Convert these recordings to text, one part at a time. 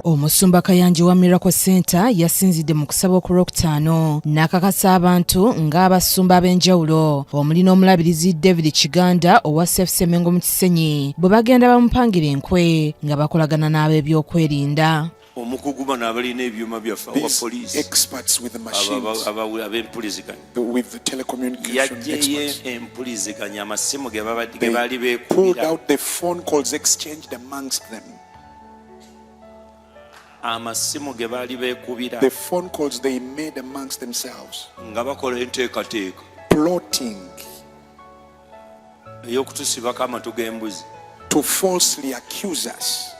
Omusumba Kayanja wa Miracle Center yasinzidde mu kusaba ku Lwokutaano n'akakasa abantu ng'abasumba ab'enjawulo omuli n'omulabirizi David Kiganda owa Safe Semengo mu Kisenyi bwe bagenda bamupangira enkwe nga bakolagana n'ab'ebyokwerinda. omukugu bano abalina ebyuma byaffe awa poliisi ab'empuliziganya yajjeyo empuliziganya amasimu ge baali beekubira amasimu ge baali beekubira nga bakola enteekateeka eyokutusibako amatu g'embuzi to falsely accuse us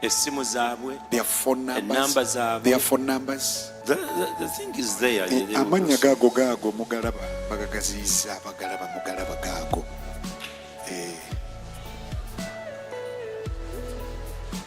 essimu zaabwe their phone numbers ennamba zaabwe their phone numbers the, the, the thing is there eh, amannya gaago gaago mugalaba bagagaziyiza bagalaba mugalaba gaago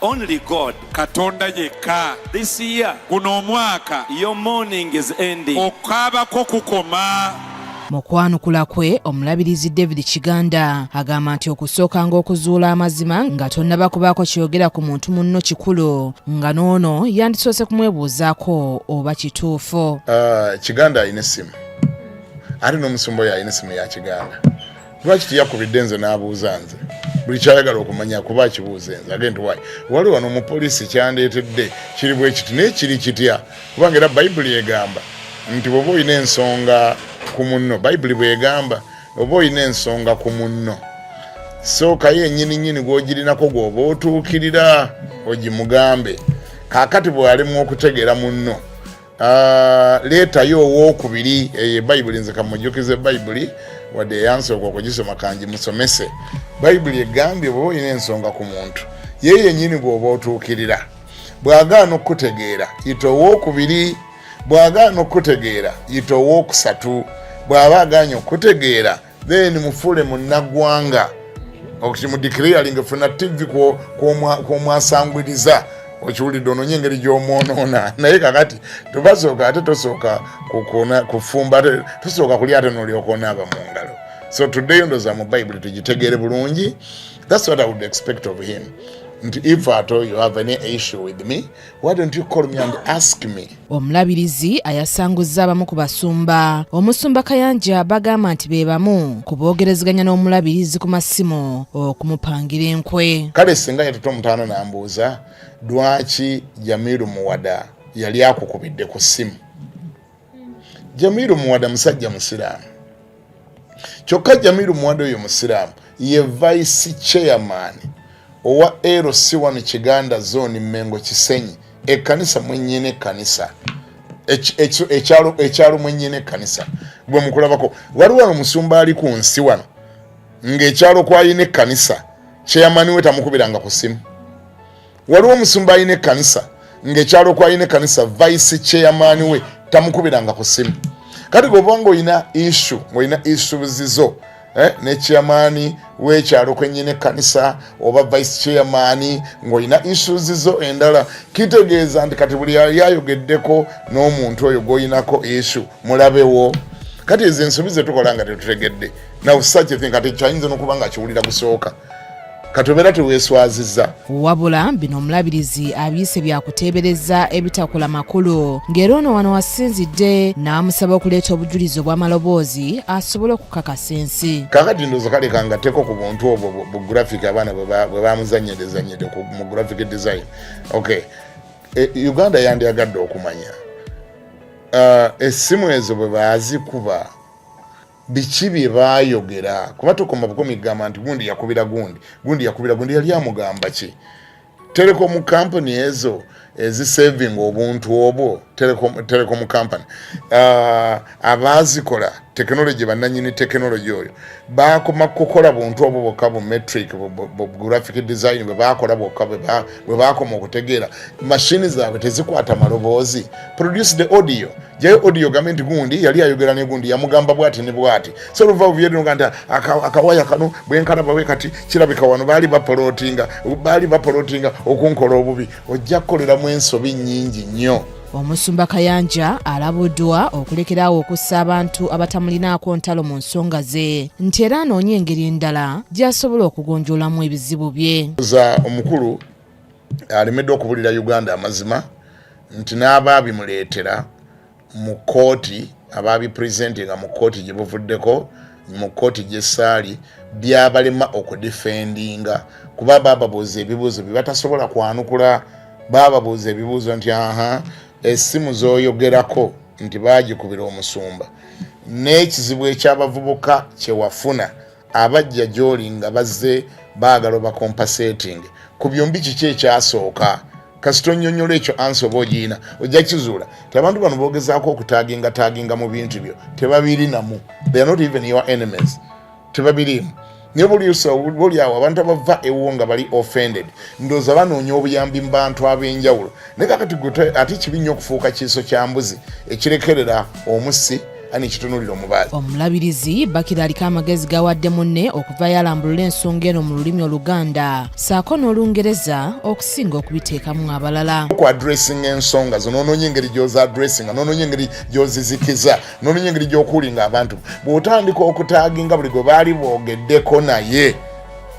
Only God. Katonda yekka. This year. Guno omwaka. Your morning is ending. Okaaba ko kukoma. Mu kwanukula kwe omulabirizi David Kiganda agamba nti okusooka ng'okuzuula amazima nga tonnaba kubaako kyogera ku muntu munno kikulu nga n'ono yandisoose kumwebuuzaako oba kituufu. Uh, Kiganda alina essimu ate n'omusumba oyo alina essimu ya Kiganda. lwaki teyakubidde nze n'abuuza nze buli kyayagala okumanya kuba akibuuza enze agenti wayi wali wano omupoliisi kyandeetedde kiri bwe kiti naye kiri kitya kubanga era bayibuli egamba nti bweoba olina ensonga ku munno bayibuli bwegamba oba olina ensonga ku munno sookayo enyini nyini gwogirinako gwoba otuukirira ogimugambe kakati bwalimu okutegeera munno Ah, leetayo owokubiri eyo eh, bayibuli nze kamujjukize bayibuli wadde eyansooka okugisoma kangi musomese bayibuli egambye bwoba olina ensonga ku muntu ye yenyini bwoba otuukirira bwagaana okukutegeera yita owokubiri bwagaana okukutegeera yita owokusatu bwaba aganye okukutegeera then mufule munnagwanga okimudikiriyalinga funa tivi kwomwasangwiriza okiwulidde ononye engeri gyomwonoona naye kakati tubasooka ate tosooka kufumba tosooka kulya ate nolyokonaaba mu ngalo so today ndoza mu bible tugitegeere bulungi thats what i would expect of him nti if at all you have any issue with me Omulabirizi ayasanguzza abamu ku basumba omusumba Kayanja bagamba nti be bamu ku boogerezeganya n'omulabirizi ku masimu okumupangira enkwe. Kale singa yatuta omutaano n'ambuuza lwaki Jamiru Muwada yali akukubidde ku ssimu jamiru muwada musajja musiraamu kyokka jamiru muwada oyo musiraamu ye vice chairman owa lc wano kiganda zone mengo kisenyi ekkanisa mwenyini ekkanisa ekyalo mwenyini ekkanisa gwe mukulabako waliwo wano omusumba ali ku nsi wano ng'ekyalo kwalina ekkanisa kyeyamaniwe tamukubiranga ku simu waliwo omusumba alina ekkanisa ng'ekyalo kwalina ekkanisa vice chairman we tamukubiranga ku simu kati goba nga olina isu ngaolina isu zizo eh, ne chairman wekyalo kwenyina ekkanisa oba vice chairman ngaolina isu zizo endala kitegeeza nti kati buli yali ayogeddeko n'omuntu oyo gwolinako isu mulabewo kati ezo ensobi zetukola nga tetutegedde naw such a thing kati kyayinza nokuba nga kiwulira gusooka katomera teweswaziza wabula bino omulabirizi abiyise byakuteebereza ebitakola makulu ng'era ono wano wasinzidde n'amusaba okuleeta obujulizi obw'amaloboozi asobole okukakasa ensi kakati ndoza kaleka nga teko ku buntu obwo bu graphic abaana bwe bamuzanyedezanyede mu graphic design ok e, uganda yandyagadde okumanya uh, essimu ezo bwe bazikuba biki bye baayogera kuba tukoma bukomi kugamba nti gundi yakubira gundi gundi yakubira gundi yali amugamba ki telecom company ezo ezisaving obuntu obwo telecom company uh, abaazikola tekinologi bannanyini tekinologi oyo bakoma kukola buntu obwo bwokka bu metric graphic design bwe bakola bwokka bwe bakoma okutegeera mashini zaabwe tezikwata maloboozi produce the audio jayo audio gambe nti gundi yali ayogera ne gundi yamugamba bwati ne bwati so luva uvyedino kanti akawaya kano bwenkana bawe kati kirabika wano baali bapolotinga baali bapolotinga okunkola obubi ojja kukolera mu ensobi nyingi nnyo omusumba kayanja alabuddwa okulekerawo okussa abantu abatamulinaako ntalo mu nsonga ze nti era anoonya engeri endala gy'asobola okugonjoolamu ebizibu bye za omukulu alemeddwa okubulira uganda amazima nti n'abaabimuleetera mu kkooti abaabipresentinga mu kkooti gye buvuddeko mu kkooti gy'essaali byabalema okudifendinga kuba baababuuza ebibuuzo bye batasobola kwanukula baababuuza ebibuuzo nti aha essimu z'oyogerako nti baagikubira omusumba n'ekizibu ekyabavubuka kye wafuna abajja gy'oli nga bazze baagala obakompaseetinge ku byombi kiki ekyasooka kasita onyonyola ekyo ansi oba ogiina ojja kizuula ti abantu bano boogezaako okutaginga taginga mu bintu byo tebabirinamu they are not even your enemies tebabiriimu naye bulyawo abantu abava ewo nga bali offended ndooza banoonya obuyambi mu bantu ab'enjawulo naye kakati ate kibi nnyo okufuuka kiiso kya mbuzi ekirekerera omusi ani kitunulira omubaali omulabirizi bakira aliko amagezi gawadde munne okuva yalambulula ensonga eno mu lulimi oluganda saako n'olungereza okusinga okubiteekamu abalala ku adressinga ensonga zo nononya engeri gyoza adressinga nononya engeri gyozizikiza nononya engeri gyokuulinga abantu bw'otandika okutaaginga buli gwe baali boogeddeko naye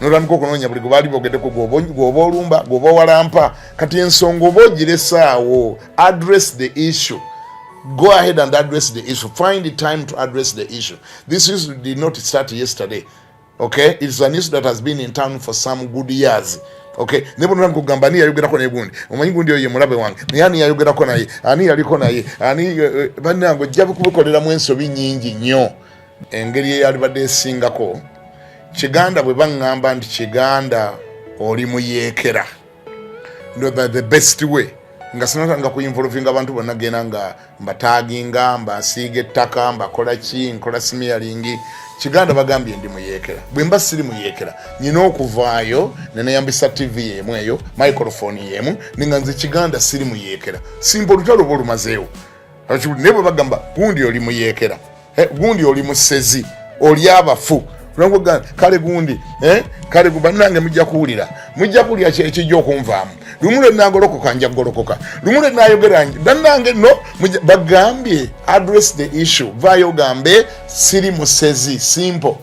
notandika okunoonya buli gwebaali bogeddeko gwoba olumba gwoba owalampa kati ensonga oba ogiresaawo address the issue go ahead and address the issue find the time to address the issue this is did not start yesterday okay it's an issue that has been in town for some good years okay ne buno namkugamba ani yayogerako naye gundi omanyi gundi oyo mulabe wange naye ani yayogerako naye ani yaliko naye ani eh, eh, banange ojja kubikoleramu ensobi nyingi nnyo engeri eyalibadde esingako kiganda bwe baŋŋamba nti kiganda oli muyeekera the best way nga sinatanga kuinvolvinga abantu bonna genda nga mbataginga mbasiiga ettaka mbakola ki nkola simiyalingi kiganda bagambye ndi muyekera bwe mba siri muyekera nyina okuvaayo neneyambisa tv yemu eyo microfoni yemu ninga nze kiganda siri muyekera simba olutalo oba olumazeewo naye bwe bagamba gundi oli muyekera eh, gundi oli musezi oli abafu kale gundi eh, kale banange mujja kuwulira mujja kuwulira ekijja okunvaamu lumu lwe nagolokoka nja kugolokoka lumu lwe nayogera banange no bagambye address the issue vayo gambe siri musezi simple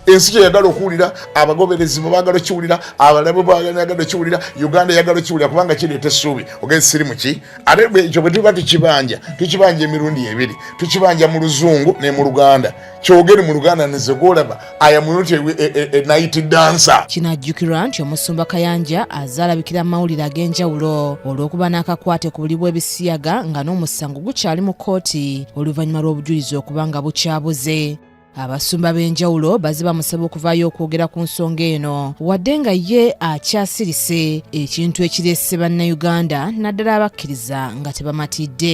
ensi kyeyagala okuwulira abagoberezi bwe bagala okiwulira abalabe bwagala okiwulira uganda eyagala okiwulira kubanga kireeta essuubi ogenzi siri muki ate ekyo bwe tuba tukibanja tukibanja emirundi ebiri tukibanja mu luzungu ne mu luganda kyogere mu luganda nize gwolaba ayamunuti enayiti e, e, e, dansa kino ajjukirwa nti omusumba kayanja azaalabikira mu mawulire ag'enjawulo olw'okuba n'akakwate ku buli bw'ebisiyaga nga n'omusango gukyali mu kkooti oluvannyuma lw'obujulizi okuba nga bukyabuze Abasumba b'enjawulo baze bamusaba okuvaayo okwogera ku nsonga eno wadde nga ye akyasirise ekintu ekirese bannayuganda naddala abakkiriza nga tebamatidde